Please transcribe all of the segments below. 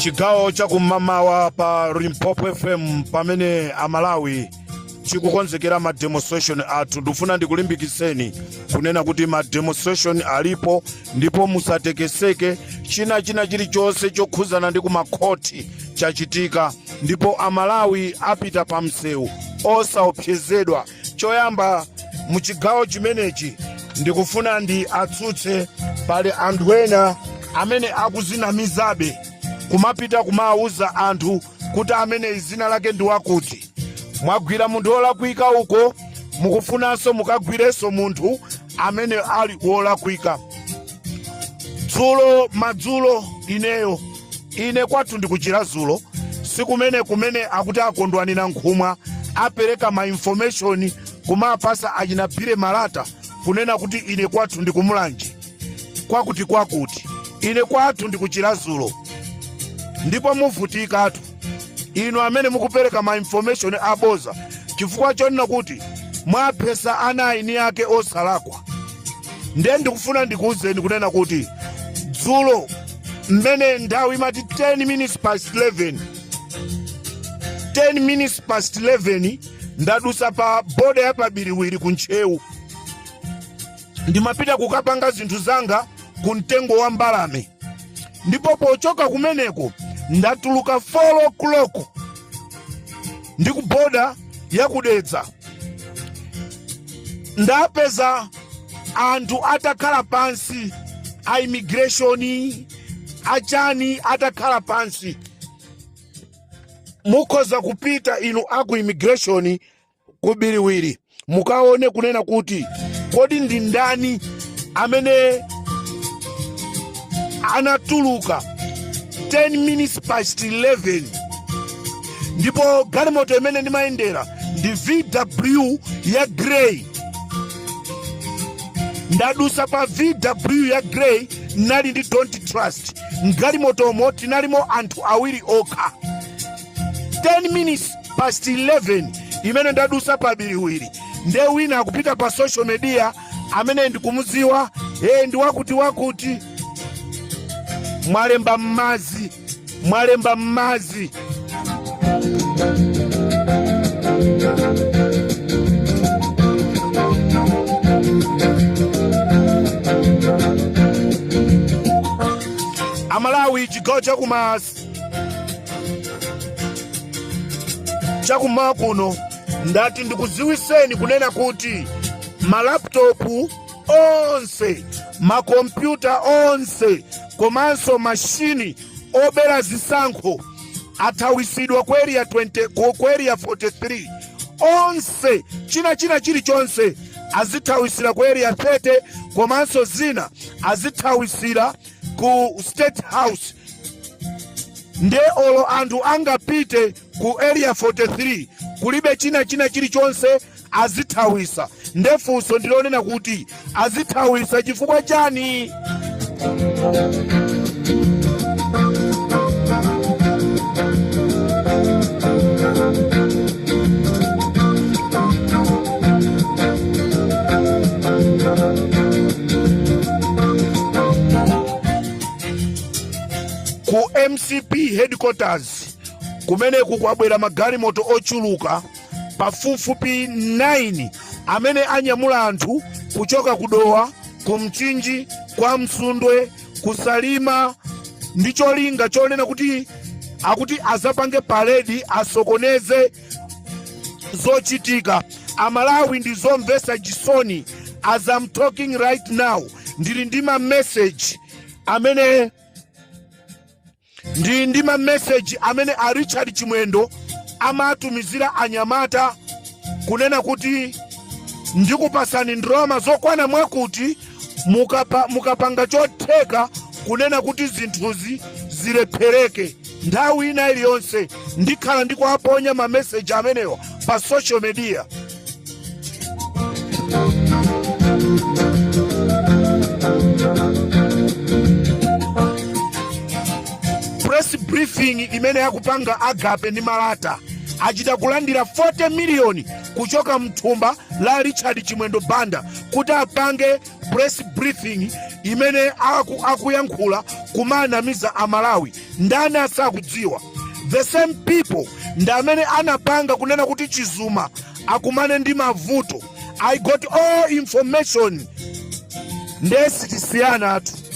chigawo chakum'mamawa pa limpopo fm pamene amalawi chikukonzekera ma demonstration athu ndikufuna ndikulimbikitseni kunena kuti ma demonstration alipo ndipo musatekeseke china china chilichonse chokhuzana ndi kumakhoti chachitika ndipo amalawi apita pa msewu osaopsezedwa choyamba mu chigawo chimenechi ndikufuna ndiwatsutse pali anthu ena amene akuzinamizabe kumapita kumawawuza anthu kuti amene zina lake ndi wakuti mwagwira munthu wolakwika uko mukufunanso mukagwirenso munthu amene ali wolakwika dzulo madzulo ineyo ine kwathu ndi ku chiradzulu sikumene kumene akuti a kondwani nankhumwa apereka ma information kumapasa achina bill malata kunena kuti ine kwathu ndi ku mulanje kwakuti kwakuti ine kwathu ndi ku chiradzulu ndipo muvutikatu inu amene mukupereka ma information aboza chifukwa chonena kuti mwaphesa ana a eni ake osalakwa ndiye ndikufuna ndikuwuzeni kunena kuti dzulo mmene nthawi imati 10 minutes past 11 10 minutes past 11 ndadusa pa boda ya pa biriwiri ku ntcheu ndimapita kukapanga zinthu zanga ku mtengo wa mbalame ndipo pochoka kumeneko ndatuluka 4 o'clock ndi ku boda ya ku dedza ndapeza anthu atakhala pansi a immigration achani atakhala pansi mukhoza kupita inu aku immigration ku biriwiri mukaone kunena kuti kodi ndi ndani amene anatuluka 10 minutes past 11 ndipo galimoto imene ndimayendera ndi vw ya grey ndadusa pa vw ya grey ndinali ndi don't trust mgalimotomo tinalimo anthu awiri okha 10 minutes past 11 imene ndadusa pa biriwiri nde wina akupita pa social media amene ndikumudziwa ee ndi wakuti wakuti mwalemba m'madzi mwalemba m'madzi amalawi chigawo chakumas chakummawa kuno ndati ndikuziwiseni kunena kuti malaptopu onse makompyuta onse komanso mashini obera zisankho athawisidwa ku area 43 onse china china chilichonse azithawisira ku area 30 komanso zina azithawisira ku state house nde olo anthu angapite ku area 43 kulibe china china chilichonse azithawisa nde funso ndilonena kuti azithawisa chifukwa chani ku mcp headquarters kumene kukwabwera magalimoto ochuluka pafupifupi 9 amene anyamula anthu kuchoka ku dowa ku mchinji kwa msundwe ku salima ndi cholinga chonena kuti akuti azapange paredi asokoneze zochitika amalawi ndi zomvesa chisoni as I'm talking right now ndili ndi ma message amene a Richard Chimwendo amatumizira anyamata kunena kuti ndikupasani ndalama zokwana mwakuti mukapanga chotheka kunena kuti zinthuzi zilephereke nthawi ina iliyonse ndikhala ndikuwaponya mameseji amenewa pa social media press briefing imene akupanga agape ndi malata achita kulandira 40 miliyoni kuchoka mthumba la richard chimwendo banda kuti apange press briefing imene akuyankhula kumanamiza amalawi ndani asakudziwa the same people ndi amene anapanga kunena kuti chizuma akumane ndi mavuto i got all information nde sitisiyanatu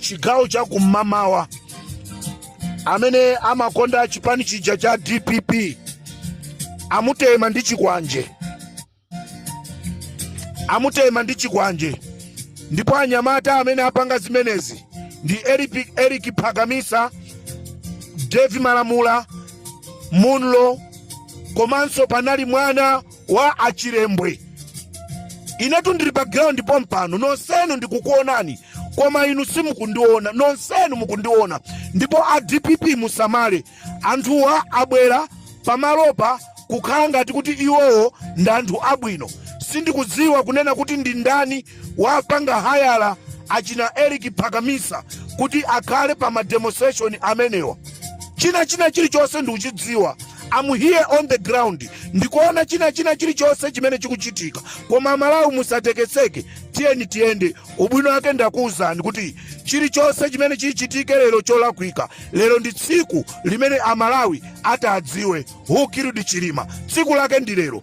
chigawo cha kummawa amene amakonda chipani chija cha dpp amutema ndi chikwanje ndipo anyamata amene apanga zimenezi ndi eric phakamisa devi malamula munlo komanso panali mwana kwa achilembwe inetu ndili pa ground pompano nonsenu ndikukuonani koma inu simukundiona nonsenu mukundiona ndipo a dpp musamale anthuwa abwera pamalopa kukhala ngati kuti iwowo ndi anthu abwino sindikudziwa kunena kuti ndi ndani wapanga hayala achina Eric Phakamisa kuti akhale pa ma demonstration amenewa. China china chilichonse ndikuchidziwa I'm here on the ground ndikuona china china chilichonse chimene chikuchitika koma amalawi musatekeseke tiyeni tiyende ubwino wake ndakuwuzani kuti chilichonse chimene chichitike lero cholakwika lero ndi tsiku limene amalawi atadziwe who killed chilima tsiku lake ndi lero